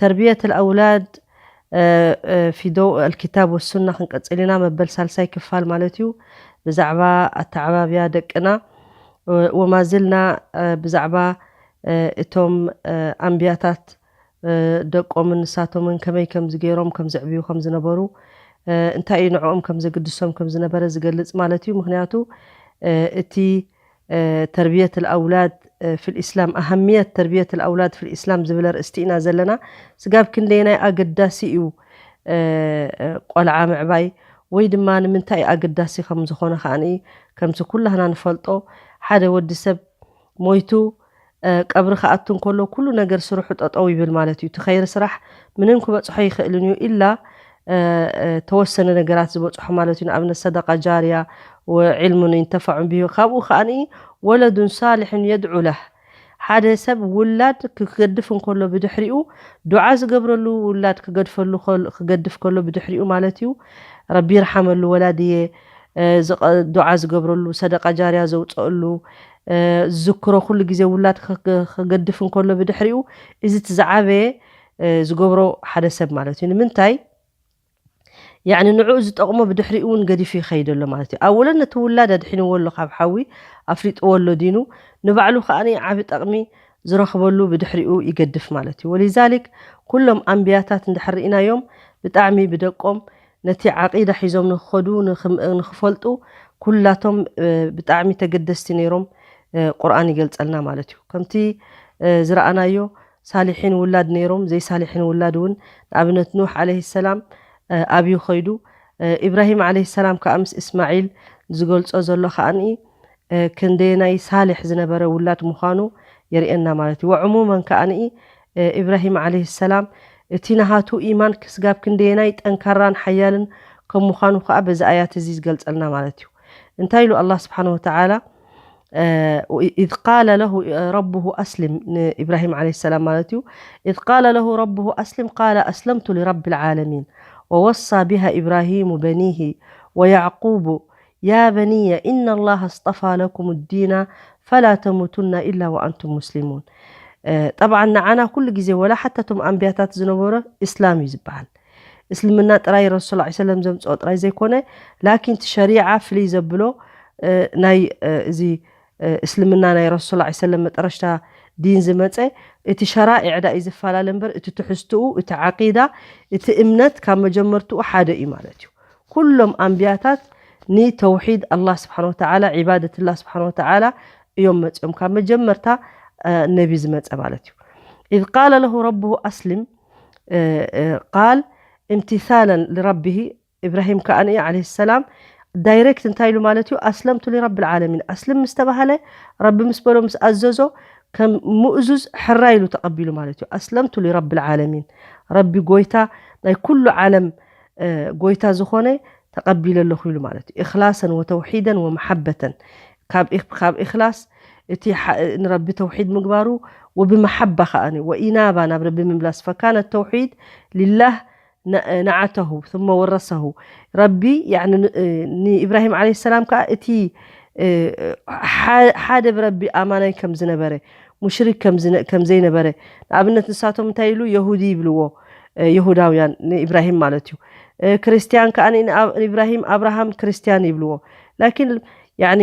ተርብየት ኣልኣውላድ ፊ ዶው ኣልኪታብ ወሱና ክንቅጽል ኢና መበል ሳልሳይ ክፋል ማለት እዩ ብዛዕባ ኣተዓባብያ ደቅና ወማዝልና ብዛዕባ እቶም ኣንብያታት ደቆምን ንሳቶምን ከመይ ከምዚ ገይሮም ከም ዘዕብዩ ከም ዝነበሩ እንታይ እዩ ንዕኦም ከም ዘግድሶም ከም ዝነበረ ዝገልጽ ማለት እዩ ምኽንያቱ እቲ ተርብየት ኣውላድ ፊል ኢስላም፣ ኣሃምየት ተርብየት ኣውላድ ፊል ኢስላም ዝብል ኣርእስቲ ኢና ዘለና። ስጋብ ክንደየናይ ኣገዳሲ እዩ ቆልዓ ምዕባይ ወይ ድማ ንምንታይ እዩ ኣገዳሲ ከም ዝኾነ ከኣ ከምቲ ኩላህና ንፈልጦ ሓደ ወዲ ሰብ ሞይቱ ቀብሪ ክኣቱ እንከሎ ኩሉ ነገር ስርሑ ጠጠው ይብል ማለት እዩ። እቲ ኸይሪ ስራሕ ምንም ክበፅሖ ኣይኽእልን እዩ ኢላ ተወሰነ ነገራት ዝበፅሖ ማለት እዩ። ንኣብነት ሰደቃ ጃርያ ወዒልሙን ይንተፈዑን ቢሂ ካብኡ ከኣ ወለዱን ሳልሕን የድዑ ለህ ሓደ ሰብ ውላድ ክገድፍ እንከሎ ብድሕሪኡ ዱዓ ዝገብረሉ ውላድ ክገድፈሉ ክገድፍ ከሎ ብድሕሪኡ ማለት እዩ ረቢ ይርሓመሉ ወላድየ ዱዓ ዝገብረሉ ሰደቃ ጃርያ ዘውፀእሉ ዝዝክሮ ኩሉ ግዜ ውላድ ክገድፍ እንከሎ ብድሕሪኡ እዚ እቲ ዝዓበየ ዝገብሮ ሓደ ሰብ ማለት እዩ ንምንታይ ያዕኒ ንዕኡ ዝጠቕሞ ብድሕሪኡ እውን ገዲፉ ይኸይድ ኣሎ ማለት እዩ ኣወለን ነቲ ውላድ ኣድሒንዎ ኣሎ ካብ ሓዊ ኣፍሊጥዎ ኣሎ ዲኑ ንባዕሉ ከኣ ዓቢ ጠቕሚ ዝረኽበሉ ብድሕሪኡ ይገድፍ ማለት እዩ ወሊዛሊክ ኩሎም ኣንብያታት እንድሕር ርኢናዮም ብጣዕሚ ብደቆም ነቲ ዓቂዳ ሒዞም ንክኸዱ ንክፈልጡ ኩላቶም ብጣዕሚ ተገደስቲ ነይሮም ቁርኣን ይገልጸልና ማለት እዩ ከምቲ ዝረኣናዮ ሳሊሒን ውላድ ነይሮም ዘይሳሊሒን ውላድ እውን ንኣብነት ኑሕ ዓለይሂ ሰላም ኣብዩ ከይዱ ኢብራሂም ዓለይሂ ሰላም ከኣ ምስ እስማዒል ዝገልጾ ዘሎ ከኣ ክንደየናይ ሳልሕ ዝነበረ ውላድ ምዃኑ የርእየና ማለት እዩ ወዕሙመን ከኣ ኢብራሂም ዓለይሂ ሰላም እቲ ናሃቱ ኢማን ክስጋብ ክንደየናይ ጠንካራን ሓያልን ከም ምዃኑ ከኣ በዚ ኣያት እዚ ዝገልጸልና ማለት እዩ። እንታይ ኢሉ ኣላህ ስብሓነሁ ወተዓላ ኢዝ ቃለ ለሁ ረቡሁ ኣስሊም ንኢብራሂም ዓለይሂ ሰላም ማለት እዩ ኢዝ ቃለ ለሁ ረቡሁ ኣስሊም ቃለ ኣስለምቱ ሊረቢል ዓለሚን ወወሳ ቢሃ ኢብራሂሙ በኒሂ ወያዕቁቡ ያ በንየ ኢነላህ ኣስጠፋ ለኩም ዲና ፈላ ተሙቱና ኢላ ወኣንቱም ሙስሊሙን ጠብዓን ንዓና ኩሉ ግዜ ወላ ሓታ እቶም ኣንብያታት ዝነበሮ እስላም እዩ ዝበሃል እስልምና ጥራይ ረሱል ሰለላሁ ዐለይሂ ወሰለም ዘምጽኦ ጥራይ ዘይኮነ ላኪን እቲ ሸሪዓ ፍልይ ዘብሎ ናይ እዚ እስልምና ናይ ረሱል ዐ ሰለም መጠረሽታ ዲን ዝመፀ እቲ ሸራኢዕ ዳእዩ ዝፈላለ እምበር እቲ ትሕዝትኡ እቲ ዐቂዳ እቲ እምነት ካብ መጀመርትኡ ሐደ እዩ ማለት እዩ ኩሎም ኣንብያታት ንተውሒድ ኣላህ ስብሓን ወተዓላ ዒባደት ላህ ስብሓን ወተዓላ እዮም መፅኦም ካብ መጀመርታ ነቢ ዝመፀ ማለት እዩ ኢዝ ቃለ ለሁ ረብሁ ኣስልም ቃል እምትሳለን ልረብሂ ኢብራሂም ከኣ ዓለይሂ ሰላም ዳይሬክት እንታይ ኢሉ ማለት እዩ ኣስለምቱ ሊረቢ ልዓለሚን ኣስልም ምስ ተባህለ ረቢ ምስ በሎ ምስ ኣዘዞ ከም ሙእዙዝ ሕራይ ኢሉ ተቐቢሉ ማለት እዩ ኣስለምቱ ሊረቢ ልዓለሚን ረቢ ጎይታ ናይ ኩሉ ዓለም ጎይታ ዝኾነ ተቐቢለ ኣለኹ ኢሉ ማለት እዩ ኢኽላሰን ወተውሒደን ወመሓበተን ካብ ኢኽላስ እቲ ንረቢ ተውሒድ ምግባሩ ወብመሓባ ከኣ ወኢናባ ናብ ረቢ ምምላስ ፈካነ ተውሒድ ሊላህ ነዓተሁ ثመ ወረሰሁ ረቢ ያኒ ንኢብራሂም ዓለይሂ ሰላም ከኣ እቲ ሓደ ብረቢ ኣማናይ ከም ዝነበረ ሙሽሪክ ከም ዘይነበረ ንኣብነት ንሳቶም እንታይ ኢሉ የሁዲ ይብልዎ የሁዳውያን ንኢብራሂም ማለት እዩ ክርስትያን ከኣ ንኢብራሂም ኣብርሃም ክርስትያን ይብልዎ ላኪን ያኒ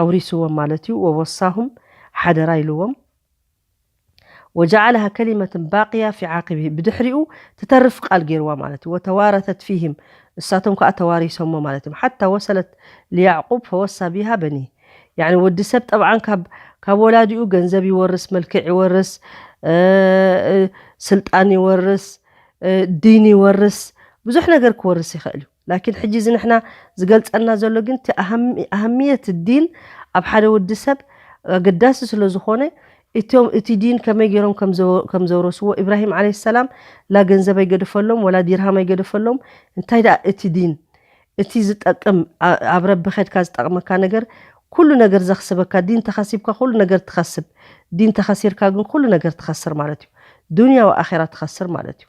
ኣውሪስዎም ማለት እዩ ወወሳሁም ሓደራ ኢልዎም ወጃዓለሃ ከሊመትን ባቅያ ፊ ዓቂብሂ ብድሕሪኡ ትተርፍ ቃል ገይርዋ ማለት እዩ ወተዋረተት ፊህም ንሳቶም ከዓ ተዋሪሶሞ ማለት እዮም ሓታ ወሰለት ልያዕቁብ ፈወሳ ቢሃ በኒህ ያኒ ወዲ ሰብ ጠብዓን ካብ ካብ ወላዲኡ ገንዘብ ይወርስ መልክዕ ይወርስ ስልጣን ይወርስ ዲን ይወርስ ብዙሕ ነገር ክወርስ ይኽእል እዩ ላኪን ሕጂ እዚ ንሕና ዝገልጸና ዘሎ ግን እቲ ኣህምየት ዲን ኣብ ሓደ ወዲ ሰብ ኣገዳሲ ስለ ዝኾነ እቶም እቲ ዲን ከመይ ጌሮም ከም ዘውረስዎ ኢብራሂም ዓለይሂ ሰላም ላ ገንዘብ ኣይገደፈሎም ወላ ዲርሃም ኣይገደፈሎም እንታይ ደኣ እቲ ዲን እቲ ዝጠቅም ኣብ ረቢ ከድካ ዝጠቅመካ ነገር ኩሉ ነገር ዘኽስበካ ዲን ተኸሲብካ ኩሉ ነገር ትኸስብ ዲን ተኸሲርካ ግን ኩሉ ነገር ትኸስር ማለት እዩ ዱንያ ወኣኺራ ትኸስር ማለት እዩ።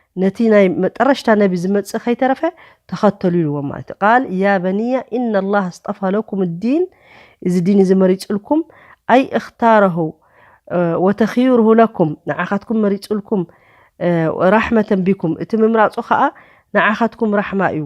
ነቲ ናይ መጠረሽታ ነቢ ዝመጽእ ከይተረፈ ተኸተሉ ኢልዎም ማለት እዩ ቃል ያ በንያ ኢነ ኣላህ ኣስጠፋ ለኩም ዲን እዚ ዲን እዚ መሪጹልኩም ኣይ እኽታረሁ ወተኽዩርሁ ለኩም ንዓኻትኩም መሪጹልኩም ራሕመተን ቢኩም እቲ ምምራጹ ከዓ ንዓኻትኩም ራሕማ እዩ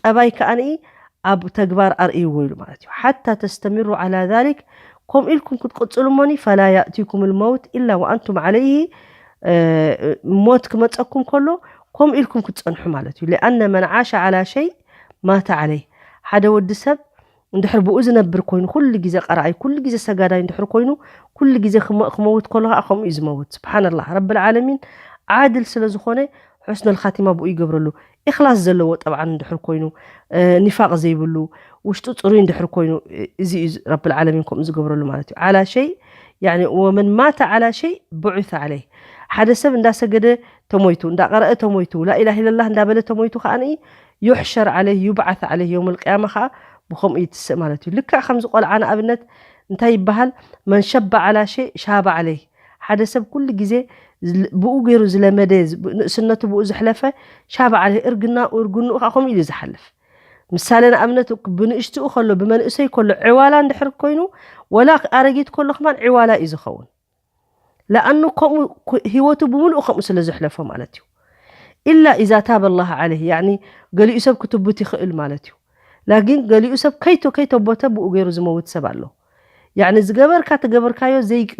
ጠባይ ከኣ ኣብ ተግባር ኣርእይዎ ኢሉ ማለት እዩ። ሓታ ተስተሚሩ ዓላ ዛሊክ ከምኡ ኢልኩም ክትቅጽሉ እሞኒ ፈላ ያእቲኩም ልመውት ኢላ ወኣንቱም ዓለይሂ ሞት ክመጸኩም ከሎ ከምኡ ኢልኩም ክትጸንሑ ማለት እዩ። ሊኣነ መን ዓሸ ዓላ ሸይ ማተ ዓለይህ ሓደ ወዲ ሰብ እንድሕር ብኡ ዝነብር ኮይኑ ኩሉ ግዜ ቀራኣይ ኩሉ ግዜ ሰጋዳይ እንድሕር ኮይኑ ኩሉ ግዜ ክመክመውት ከሎ ከኣ ከምኡ እዩ ዝመውት ስብሓንላህ ረብል ዓለሚን ዓድል ስለ ዝኾነ ሑስነል ኻቲማ ብኡ ይገብረሉ ኢኽላስ ዘለዎ ጠብዓን እንድሕር ኮይኑ ኒፋቅ ዘይብሉ ውሽጡ ጽሩይ እንድሕር ኮይኑ እዚ እዩ ረብል ዓለሚን ከምኡ ዝገብረሉ ማለት እዩ ዓላ ሸይ ያኒ ወመን ማተ ዓላ ሸይ ብዑተ ዓለይ ሓደ ሰብ እንዳሰገደ ተሞይቱ እንዳቀረአ ተሞይቱ ላኢላህ ኢለላህ እንዳበለ ተሞይቱ ከኣ ዩሕሸር ዓለይህ ዩብዓት ዓለይህ የውመል ቅያማ ከኣ ብኸምኡ ይትስእ ማለት እዩ። ልክዕ ከምዚ ቆልዓ ንኣብነት እንታይ ይበሃል መን ሸበ ዓላ ሸይ ሻበ ዓለይህ ሓደ ሰብ ኩሉ ግዜ ብኡ ገይሩ ዝለመደ ንእስነቱ ብኡ ዘሕለፈ ሻበ ዓለይህ እርግናኡ እርግንኡ ከኣ ከምኡ ኢሉ ዝሓልፍ ምሳሌ ንኣብነት ብንእሽትኡ ከሎ ብመንእሰይ ከሎ ዕዋላ እንድሕር ኮይኑ ወላ ኣረጊት ከሎ ከማን ዕዋላ እዩ ዝኸውን። ለኣኑ ከምኡ ህይወቱ ብምሉኡ ከምኡ ስለ ዘሕለፎ ማለት እዩ ኢላ ኢዛ ታበ ላህ ዓለይህ ያዕኒ ገሊኡ ሰብ ክትቡት ይኽእል ማለት እዩ ላኪን ገሊኡ ሰብ ከይቶ ከይተቦተ ብኡ ገይሩ ዝመውት ሰብ ኣሎ ያዕኒ ዝገበርካ ተገበርካዮ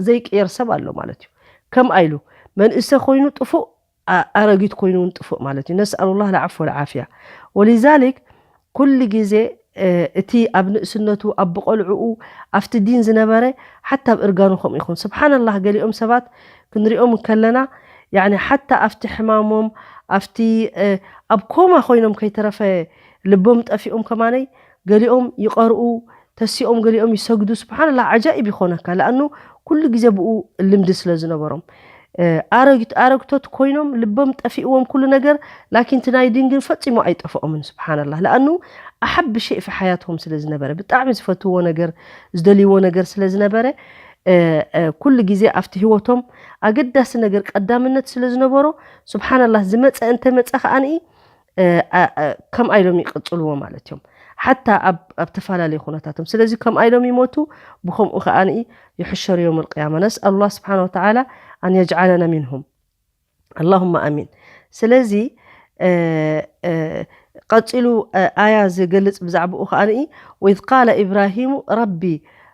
ዘይቅየር ሰብ ኣሎ ማለት እዩ ከምኣ ኢሉ መንእሰ ኮይኑ ጥፉእ ኣረጊት ኮይኑ ውን ጥፉእ ማለት እዩ ነስኣሉላህ ለዓፍወ ለዓፍያ ወሊዛሊክ ኩሉ ግዜ እቲ ኣብ ንእስነቱ ኣብ ብቆልዕኡ ኣብቲ ዲን ዝነበረ ሓታ ኣብ እርጋኑ ከምኡ ይኹን ስብሓነላህ ገሊኦም ሰባት ክንሪኦም እንከለና ያኒ ሓታ ኣብቲ ሕማሞም ኣብቲ ኣብ ኮማ ኮይኖም ከይተረፈ ልቦም ጠፊኦም ከማነይ ገሊኦም ይቀርኡ ተሲኦም ገሊኦም ይሰግዱ ስብሓንላህ ዓጃኢብ ይኾነካ ለኣኑ ኩሉ ግዜ ብኡ ልምዲ ስለ ዝነበሮም ኣረግት ኣረግቶት ኮይኖም ልቦም ጠፊእዎም ኩሉ ነገር ላኪን እቲ ናይ ዲን ግን ፈጺሙ ኣይጠፍኦምን ስብሓንላህ ለኣኑ ኣሓቢ ሸይ ፊ ሓያትሆም ስለ ዝነበረ ብጣዕሚ ዝፈትዎ ነገር ዝደልይዎ ነገር ስለ ዝነበረ ኩሉ ግዜ ኣብቲ ህይወቶም ኣገዳሲ ነገር ቀዳምነት ስለ ዝነበሮ ስብሓንላህ ዝመፀ እንተመፀ ከኣ ከምኣ ኢሎም ይቅጽልዎ ማለት እዮም ሓታ ኣብ ተፈላለዩ ኩነታቶም ስለዚ ከምኣ ኢሎም ይሞቱ ብከምኡ ከኣ ይሕሸሩ ዮም ልቅያማ ነስኣል ላ ስብሓን ወተላ ኣን የጅዓለና ምንሁም ኣላሁማ ኣሚን ስለዚ ቀፂሉ ኣያ ዝገልፅ ብዛዕባኡ ከኣ ወኢዝ ቃለ ኢብራሂሙ ረቢ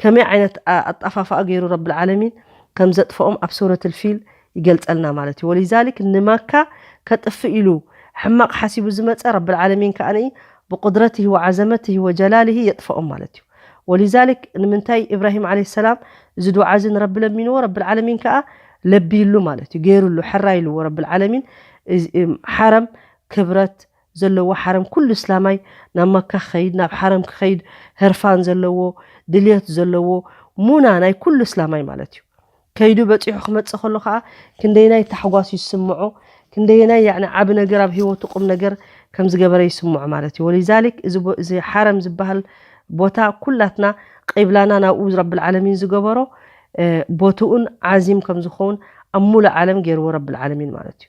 ከመይ ዓይነት ኣጣፋፍኣ ገይሩ ረቢ ልዓለሚን ከም ዘጥፍኦም ኣብ ሱረት ኣልፊል ይገልጸልና ማለት እዩ ወሊዛሊክ ንማካ ከጥፍእ ኢሉ ሕማቕ ሓሲቡ ዝመጸ ረቢ ልዓለሚን ከኣ ብቁድረትህ ወዓዘመትህ ወጀላልህ የጥፍኦም ማለት እዩ ወሊዛሊክ ንምንታይ ኢብራሂም ዓለይሂ ሰላም እዚ ዱዓ እዚ ንረቢ ለሚንዎ ረቢ ልዓለሚን ከኣ ለቢይሉ ማለት እዩ ገይሩሉ ሕራይ ኢልዎ ረቢ ልዓለሚን ሓረም ክብረት ዘለዎ ሓረም ኩሉ እስላማይ ናብ መካ ክኸይድ ናብ ሓረም ክኸይድ ህርፋን ዘለዎ ድልየት ዘለዎ ሙና ናይ ኩሉ እስላማይ ማለት እዩ ከይዱ በጺሑ ክመጽእ ከሎ ከኣ ክንደየናይ ታሕጓስ እዩ ዝስምዖ ክንደየናይ ያዕኒ ዓቢ ነገር ኣብ ህይወቱ ቁም ነገር ከም ዝገበረ ይስምዖ ማለት እዩ ወሊዛሊክ እዚ እዚ ሓረም ዝበሃል ቦታ ኩላትና ቂብላና ናብኡ ረቢ ዓለሚን ዝገበሮ ቦትኡን ዓዚም ከም ዝኸውን ኣብ ሙሉእ ዓለም ገይርዎ ረቢ ዓለሚን ማለት እዩ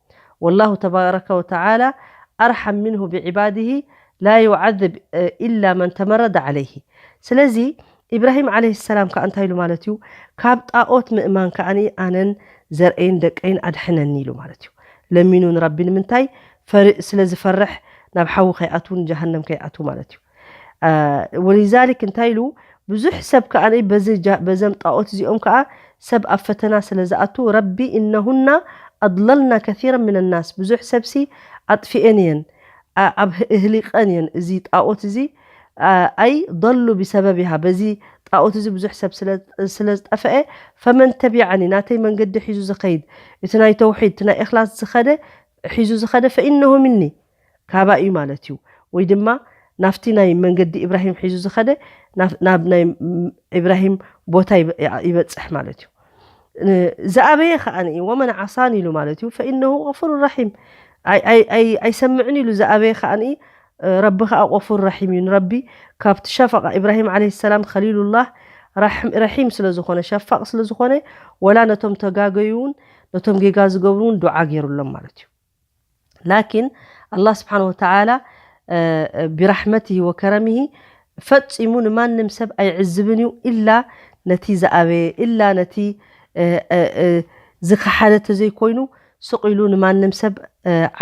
ወላሁ ተባረከ ወተዓላ ኣርሓም ምንሁ ብዒባድሂ ላ ዩዓዝብ ኢላ መን ተመረደ ዓለይሂ ስለዚ ኢብራሂም ዓለይሂ ሰላም ከኣ እንታይ ኢሉ ማለት እዩ ካብ ጣኦት ምእማን ከኣ ኣነን ዘርእይን ደቀይን ኣድሕነኒ ኢሉ ማለት እዩ ለሚኑ ንረቢ ንምንታይ ፈር ስለ ዝፈርሕ ናብ ሓዊ ከይኣትዉ ንጀሃነም ከይኣትዉ ማለት እዩ። ወሊዛሊክ እንታይ ኢሉ ብዙሕ ሰብ ከኣ በዘም ጣዖት እዚኦም ከኣ ሰብ ኣብ ፈተና ስለ ዝኣቱ ረቢ እነሁና ኣድለልና ከሲረ ምነ ናስ ብዙሕ ሰብሲ ኣጥፊኤን እየን ኣብ እህሊቀን እየን እዚ ጣዖት እዚ ኣይ ضሉ ብሰበቢሃ በዚ ጣዖት እዚ ብዙሕ ሰብ ስለ ዝጠፈአ ፈመን ተቢዓኒ ናተይ መንገዲ ሒዙ ዝኸይድ እቲ ናይ ተውሒድ እቲ ናይ እኽላስ ዝኸደ ሒዙ ዝኸደ ፈኢነሁ ምኒ ካባይ እዩ ማለት እዩ ወይ ድማ ናፍቲ ናይ መንገዲ ኢብራሂም ሒዙ ዝኸደ ናብ ናይ ኢብራሂም ቦታ ይበፅሕ ማለት እዩ ዝኣበየ ከኣ ወመን ዓሳኒ ኢሉ ማለት እዩ ፈኢነሁ غፉር ራሒም ኣይሰምዕን ኢሉ ዝኣበየ ከኣ ረቢ ከኣ ቆፉር ራሒም እዩ ንረቢ ካብቲ ሸፈቃ ኢብራሂም ዓለ ሰላም ከሊሉላህ ረሒም ስለ ዝኾነ ሸፋቅ ስለ ዝኾነ ወላ ነቶም ተጋገዩ እውን ነቶም ጌጋ ዝገብሩ እውን ዱዓ ገይሩሎም ማለት እዩ ላኪን ኣላህ ስብሓነሁ ወተዓላ ቢራሕመቲሂ ወከረሚሂ ፈጺሙ ንማንም ሰብ ኣይዕዝብን እዩ ኢላ ነቲ ዝኣበየ ኢላ ነቲ ዝኸሓደ ተዘይኮይኑ ስቕ ኢሉ ንማንም ሰብ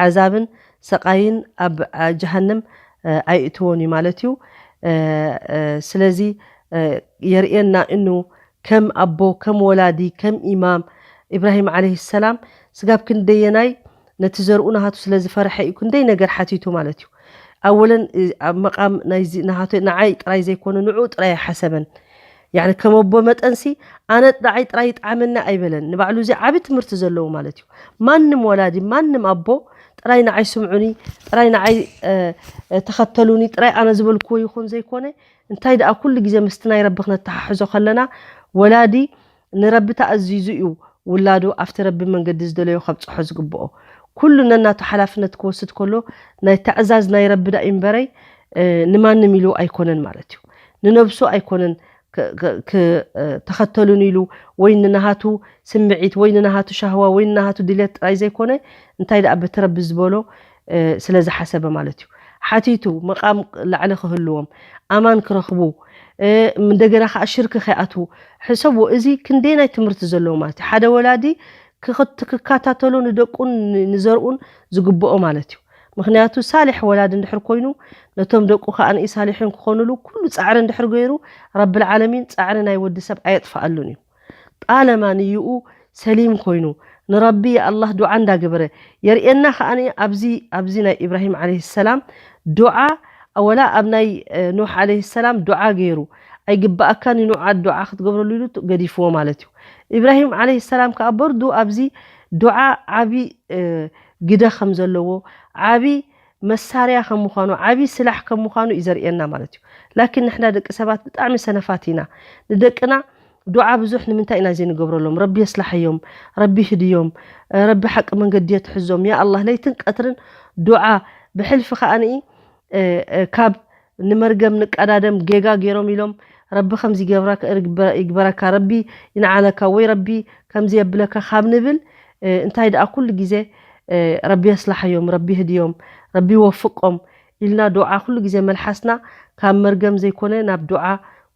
ዓዛብን ሰቓይን ኣብ ጀሃንም ኣይእትዎን እዩ ማለት እዩ ስለዚ የርእየና ኢኑ ከም ኣቦ ከም ወላዲ ከም ኢማም ኢብራሂም ዓለይሂ ሰላም ስጋብ ክንደየናይ ነቲ ዘርኡ ናሃቱ ስለ ዝፈረሐ እዩ ክንደይ ነገር ሓቲቱ ማለት እዩ ኣወለን ኣብ መቃም ናይዚ ናሃቱ ናዓይ ጥራይ ዘይኮነ ንዑኡ ጥራይ ኣይሓሰበን ያኒ ከም ኣቦ መጠንሲ ኣነ ናዓይ ጥራይ ይጥዓመኒ ኣይበለን ንባዕሉ እዚ ዓቢ ትምህርቲ ዘለዎ ማለት እዩ ማንም ወላዲ ማንም ኣቦ ጥራይ ናዓይ ስምዑኒ ጥራይ ናዓይ ተኸተሉኒ ጥራይ ኣነ ዝበልክዎ ይኹን ዘይኮነ እንታይ ደኣ ኩሉ ግዜ ምስቲ ናይ ረቢ ክነተሓሕዞ ከለና ወላዲ ንረቢ ተኣዚዙ እዩ ውላዱ ኣብቲ ረቢ መንገዲ ዝደለዮ ከብጽሖ ዝግብኦ ኩሉ ነናቱ ሓላፍነት ክወስድ ከሎ ናይ ተዕዛዝ ናይ ረቢ ደኣ ኢምበረይ ንማንም ኢሉ ኣይኮነን ማለት እዩ ንነብሱ ኣይኮነን ክተኸተሉኒ ኢሉ ወይ ንናሃቱ ስምዒት ወይ ንናሃቱ ሻህዋ ወይ ንናሃቱ ድልየት ጥራይ ዘይኮነ እንታይ ደኣ በቲ ረቢ ዝበሎ ስለ ዝሓሰበ ማለት እዩ ሓቲቱ መቃም ላዕሊ ክህልዎም ኣማን ክረኽቡ እንደገና ከዓ ሽርክ ከይኣትዉ ሕሰብዎ እዚ ክንደየናይ ትምህርቲ ዘለዎ ማለት እዩ ሓደ ወላዲ ክከታተሎ ንደቁን ንዘርኡን ዝግብኦ ማለት እዩ ምክንያቱ ሳሊሕ ወላዲ እንድሕር ኮይኑ ነቶም ደቁ ከኣ ሳሊሒን ክኾኑሉ ኩሉ ጻዕሪ እንድሕር ገይሩ ረብልዓለሚን ጻዕሪ ናይ ወዲ ሰብ ኣየጥፍኣሉን እዩ ጣለማ ንዩኡ ሰሊም ኮይኑ ንረቢ ያኣላህ ዱዓ እንዳገበረ የርእየና ከኣ ኣብዚ ኣብዚ ናይ ኢብራሂም ዓለይሂ ሰላም ዱዓ ወላ ኣብ ናይ ኑሕ ዓለይሂ ሰላም ዱዓ ገይሩ ኣይግባኣካን ዩ ኑዓ ዱዓ ክትገብረሉ ኢሉ ገዲፍዎ ማለት ዩ ኢብራሂም ዓለይሂ ሰላም ከኣ በርዱ ኣብዚ ዱዓ ዓቢ ግደ ከምዘለዎ ዓቢ መሳርያ ከም ምዃኑ ዓቢ ስላሕ ከም ምዃኑ እዩ ዘርእየና ማለት እዩ ላኪን ንሕና ደቂ ሰባት ብጣዕሚ ሰነፋት ኢና ንደቅና ዱዓ ብዙሕ ንምንታይ ኢና ዘይንገብረሎም ረቢ የስላሐዮም ረቢ ይህድዮም ረቢ ሓቂ መንገዲ የትሕዞም ያኣላህ ለይትን ቀትርን ዱዓ ብሕልፊ ከኣ ካብ ንመርገም ንቃዳደም ገጋ ገሮም ኢሎም ረቢ ከምዚ ይገብራ ይግበረካ ረቢ ይንዓለካ ወይ ረቢ ከምዚ የብለካ ካብ ንብል እንታይ ደኣ ኩሉ ግዜ ረቢ የስላሓዮም ረቢ ይህድዮም ረቢ ይወፍቆም ኢልና ዱዓ ኩሉ ግዜ መልሓስና ካብ መርገም ዘይኮነ ናብ ዱዓ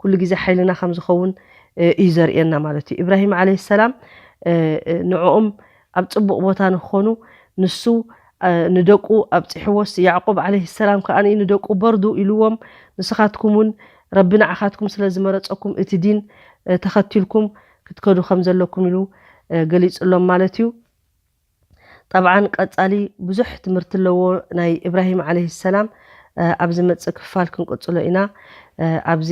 ኩሉ ግዜ ሓይልና ከም ዝኸውን እዩ ዘርእየና ማለት እዩ ኢብራሂም ዓለይሂ ሰላም ንዕኦም ኣብ ጽቡቕ ቦታ ንክኾኑ ንሱ ንደቁ ኣብጺሕዎስ፣ ያዕቁብ ዓለይሂ ሰላም ከኣ ንደቁ በርዱ ኢሉዎም፣ ንስኻትኩም ውን ረቢ ንዓኻትኩም ስለ ዝመረጸኩም እቲ ዲን ተኸቲልኩም ክትከዱ ከም ዘለኩም ኢሉ ገሊጽሎም ማለት እዩ። ጠብዓን ቀጻሊ ብዙሕ ትምህርቲ ኣለዎ ናይ ኢብራሂም ዓለይሂ ሰላም ኣብ ዝመጽእ ክፋል ክንቅጽሎ ኢና ኣብዚ